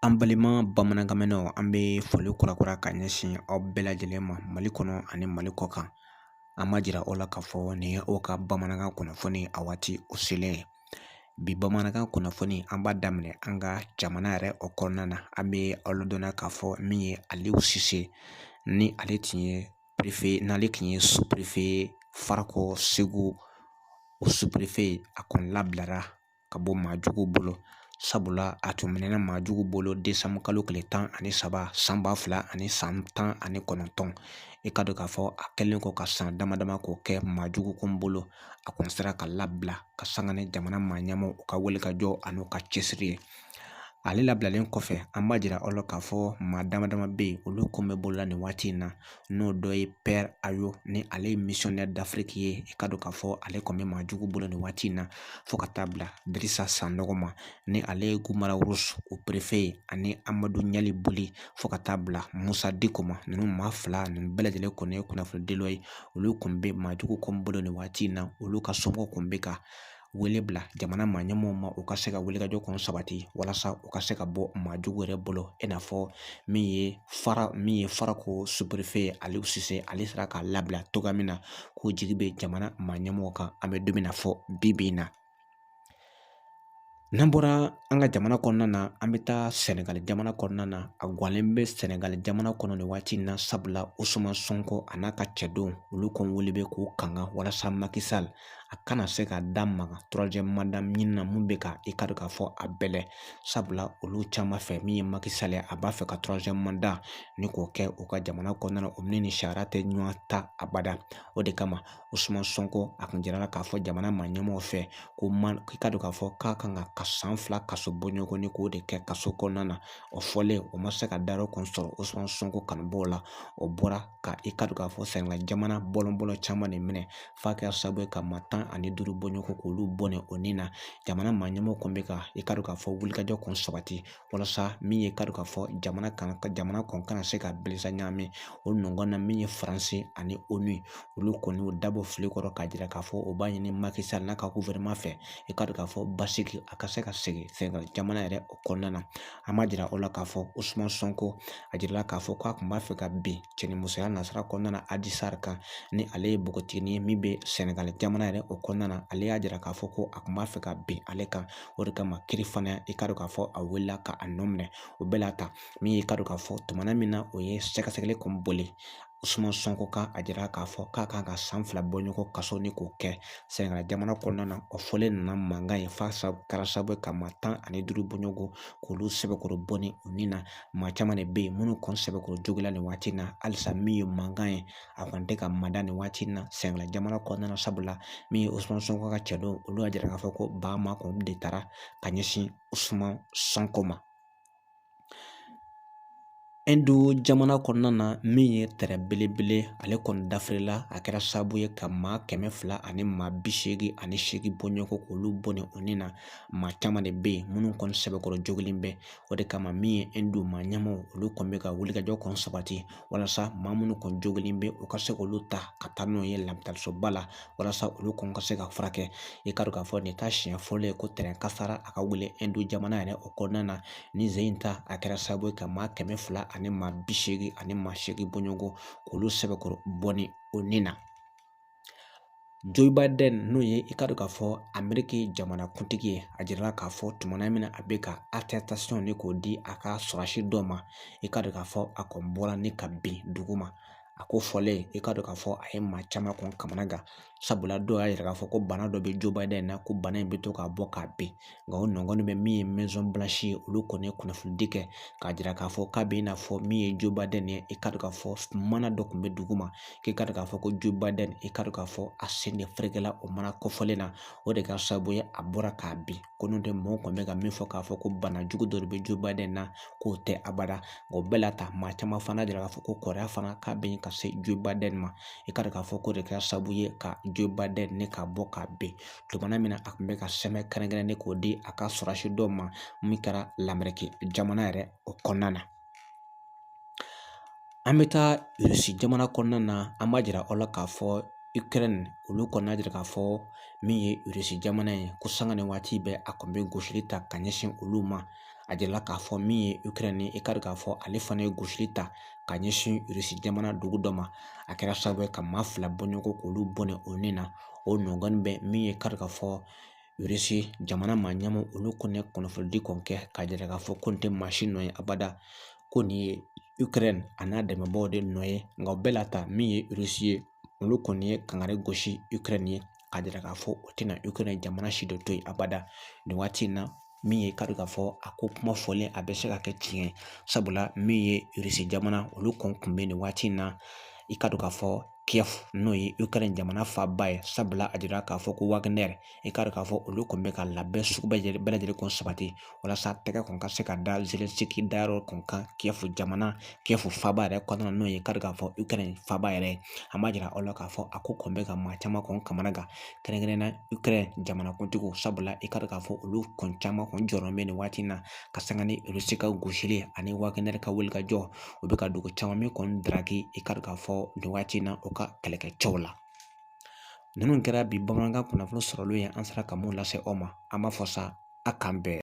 An balima bamanankanmɛnnaw an bɛ foli kura kura ka ɲɛsin aw bɛɛ lajɛlen ma mali kɔnɔ ani mali kɔ kan an b'a jira aw la k'a fɔ nin ye aw ka bamanankan kunnafoni a waati o selen ye bi bamanankan kunnafoni an b'a daminɛ an ka jamana yɛrɛ o kɔnɔna na an bɛ aw ladɔnna k'a fɔ min ye aliyu sise ni ale tun ye perefe n'ale tun ye superefe farakɔ segu o superefe a kɔni labilara ka bɔ maa jugu bolo sabula a tun minɛna maa jugu bolo desanburu kalo tile tan ani saba san ba fila ani san tan ani kɔnɔntɔn i k'a dɔn k'a fɔ a kɛlen kɔ ka san dama dama k'o kɛ maa jugu kun bolo a kun sera ka labila ka sanga ni jamana maa ɲɛmaaw ka wulikajɔ ani u ka cɛsiri ye ale labilalen kɔfɛ an b'a jira aw la k'a fɔ maa dama dama bɛ yen olu kun bɛ bolola nin waati in na n'o dɔ ye pɛr hayo ni ale ye misiyɔnɛri dafiriki ye i k'a dɔn k'a fɔ ale kɔni bɛ maa jugu bolo nin waati in na fo ka taa bila dirisa sanɔgɔ ma ni ale ye guruma rarusi o perefe ye ani amadu ɲalibuli fo ka taa bila musa diko ma ninnu maa fila ninnu bɛɛ lajɛlen kɔni ye kunnafonidilaw ye olu kɔni bɛ maajugu kun bolo nin waati in na olu ka somɔgɔw kɔni bɛ ka wele bila jamana maa ɲɛmɔgɔw ma u ka se ka wulikajɔ kun sabati walasa u ka se ka bɔ maa jugu yɛrɛ bolo i n'a fɔ min ye fara min ye farakɔ superefe ye aliyu sise ale sera ka labila cogoya min na k'o jigi bɛ jamana maa ɲɛmɔgɔw kan an bɛ don min na fɔ bi bi in na n'an bɔra an ka jamana kɔnɔna na an bɛ taa sɛnɛgali jamana kɔnɔna na a gɔlen bɛ sɛnɛgali jamana kɔnɔ nin waati in na sabula usumani sɔnko a n'a ka cɛdenw olu kɔni wele bɛ k'u kanga walasa maki sali a kana se ka da maga torowaziyɛmu manda ɲini na mun bɛ ka i k'a dɔn k'a fɔ a bɛlɛ sabula olu caman fɛ min ye maki sali ye a b'a fɛ ka torowaziyɛmu manda nin k'o kɛ u ka jamana kɔnɔna na o ni nin sariya tɛ ɲɔgɔn ta abada o de kama usumani sɔnko a kun jirala k'a fɔ jamana maa ɲɛmɔgɔw fɛ ko man i k'a dɔn k'a fɔ k'a kan ka ka san fila kaso bɔɲɔgɔnni k'o de kɛ kaso kɔnɔna na o fɔlen o ma se ka da yɔrɔ kun sɔrɔ usumani sɔnko kanubaaw la u bɔra ka i k'a dɔn k'a fɔ sɛnɛgali jamana bɔlɔn bɔlɔn caman de minɛ f'a kɛra sababu ye ka maa tan ani duuru bɔɲɔgɔnko k'olu bɔnɛ u nin na jamana maa ɲɛmɔgɔw kɔni bɛ ka i k'a dɔn k'a fɔ wulikajɔ kun sabati walasa min ye i k'a dɔn k'a fɔ jamana kan ka jamana kɔni kana se ka bilisa ɲagami o nɔgɔn na min ye faransi ani onu ye olu kɔni y'u dabɔ fili kɔrɔ k'a jira k'a fɔ u b'a ɲini maki sali n'a ka gufɛrɛnama fɛ i k'a dɔn k'a fɔ basigi a ka se ka segin sɛnɛgali jamana yɛrɛ o kɔnɔna na an b'a jira aw la k'a fɔ usumani sɔnko a jirala k'a fɔ k'a kun b'a fɛ ka bin cɛnimusoya nasira kɔnɔna na aji sari kan ni ale ye npogotiginin ye min bɛ sɛnɛgali jamana yɛrɛ o kɔnɔna na ale y'a jira k'a fɔ ko a kun b'a fɛ ka bin ale kan o de kama kiiri fana i k'a dɔn k'a fɔ a wulila ka a nɔ minɛ o bɛɛ la ta min y'i k'a dɔn k'a fɔ tuma min na u ye sɛgɛsɛgɛli kun boli Usumani Sonko kan a jira k'a fɔ k'a kan ka san fila bɔ ɲɔgɔn kaso ni k'o kɛ Sɛnɛgali jamana kɔnɔna na o fɔlen nana mankan ye f'a kɛra sababu ye ka maa tan ani duuru bɔ ɲɔgɔn k'olu sɛbɛkɔrɔ bɔnɛ u ni na maa caman de bɛ yen minnu kɔni sɛbɛkɔrɔ jogila nin waati in na halisa min ye mankan ye a kɔni tɛ ka mada nin waati in na Sɛnɛgali jamana kɔnɔna na sabula min ye Usumani Sonko ka cɛdenw olu y'a jira k'a fɔ ko bagama kɔni de taara ka ɲɛsin Usumani Sonko ma jamana kɔnɔna na min ye tɛrɛn belebele ale kɔni dafirila a kɛra sababu ye ka maa kɛmɛ fila ani maa bi seegin ani seegin bɔɲɔgɔnko k'olu bɔnɛ u ni na maa caman de bɛ yen minnu kɔni sɛbɛkɔrɔ jogilen bɛ o de kama min ye Ɛndu maa ɲɛmaaw olu kɔni bɛ ka wulikajɔ kɔn sabati walasa maa minnu kɔni jogilen bɛ u ka se k'olu ta ka taa n'u ye lapitalisoba la walasa olu kɔni ka se ka furakɛ i ka dɔn k'a fɔ nin t'a siɲɛ fɔlɔ ye ko tɛrɛn kasara a ka wuli Ɛndu jamana yɛrɛ o kɔnɔna na nin sen in ta a kɛra sababu ye ka maa kɛmɛ fila ani maa bi seegin ani maa seegin bɔɲɔgɔn k'olu sɛbɛkɔrɔ bɔnɛ u ni na Joe Biden n'o ye i ka dɔn k'a fɔ Ameriki jamanakuntigi ye a jirala k'a fɔ tumana min na a bɛ ka attestation ni k'o di a ka sɔrɔsi dɔ ma i ka dɔn k'a fɔ a kɔni bɔra ni ka bin dugu ma a kofɔlen i ka dɔn k'a fɔ a ye maa caman kɔn kamanagan sabula dɔw y'a yira k'a fɔ ko bana dɔ bɛ Joe Biden na ko bana in bɛ to k'a bɔ k'a bin nka o nɔgɔnin bɛɛ min ye Maison Blanche ye olu kɔni ye kunnafonidi kɛ k'a jira k'a fɔ k'a bɛ i n'a fɔ min ye Joe Biden ye i ka dɔn k'a fɔ mana dɔ kun bɛ dugu ma k'i ka dɔn k'a fɔ ko Joe Biden i ka dɔn k'a fɔ a sen de ferekela o mana kofɔlen na o de kɛra sababu ye a bɔra k'a bin ko n'o tɛ mɔgɔw kɔni bɛ ka min fɔ k'a fɔ ko bana jugu dɔ de bɛ Joe Biden na k'o tɛ abada o bɛɛ la ta maa caman fana jira k'a fɔ ko kɔrɔya fana k'a bɛ ka se Joe Biden ma i ka dɔn k'a fɔ k'o de kɛra sababu ye ka Joe Biden nin k'a bɔ k'a bin tumana min na a tun bɛ ka sɛbɛn kɛrɛnkɛrɛnnen k'o di a ka sɔrɔsi dɔw ma min kɛra Lameriki jamana yɛrɛ o kɔnɔna na an bɛ taa Irisi jamana kɔnɔna na an b'a jira aw la k'a fɔ Ukraine olu kɔni y'a jira k'a fɔ min ye Irisi jamana ye ko sanga ni waati bɛɛ a kɔni bɛ gosili ta ka ɲɛsin olu ma a jirala k'a fɔ min ye Ukraine ye i ka dɔn k'a fɔ ale fana ye gosili ta ka ɲɛsin Irisi jamana dugu dɔ ma a kɛra sababu ye ka maa fila bɔ ɲɔgɔn k'olu bɔnɛ u ni na o nɔgɔnin bɛɛ min ye i ka dɔn k'a fɔ Irisi jamana maa ɲɛmaaw olu kɔni kunnafonidi kɔni kɛ k'a jira k'a fɔ ko nin tɛ maa si nɔ ye abada ko nin ye Ukraine a n'a dɛmɛbaaw de nɔ ye nka o bɛɛ la ta min ye Irisi ye olu kɔni ye kangari gosi Ukraine ye k'a jira k'a fɔ u tɛna Ukraine jamana si dɔ to yen abada nin waati in na min ye i ka dɔn k'a fɔ a ko kuma fɔlen a bɛ se ka kɛ tiɲɛ ye sabula min ye Irisi jamana olu kɔn kun bɛ nin waati in na i ka dɔn k'a fɔ Kiev n'o ye Ukraine jamana faaba ye sabula a jira k'a fɔ ko Wagner i k'a dɔn k'a fɔ olu kɔni bɛ ka labɛn sugu bɛɛ lajɛlen bɛɛ lajɛlen kɔni sabati walasa tɛgɛ kɔni ka se ka da Zelensky dayɔrɔ kɔni kan Kiev jamana Kiev faaba yɛrɛ kɔnɔna n'o ye k'a dɔn k'a fɔ Ukraine faaba yɛrɛ ye an b'a jira aw la k'a fɔ a ko kɔni bɛ ka maa caman kɔni kamana gan kɛrɛnkɛrɛnnenya Ukraine jamanakuntigiw sabula i k'a dɔn k'a fɔ olu kɔni caman kɔni jɔyɔrɔ bɛ nin waati in na ka sanga ni Rusi ka gosili ani Wagner ka wulikajɔ u bɛ ka dugu caman min kɔni daraki i k'a dɔn k'a fɔ nin waati in na u ka kɛlɛkɛcɛw la ninnu kɛra bi bamanankan kunnafoni sɔrɔlen ye an sera ka mun lase aw ma an b'a fɔ sa a k'an bɛn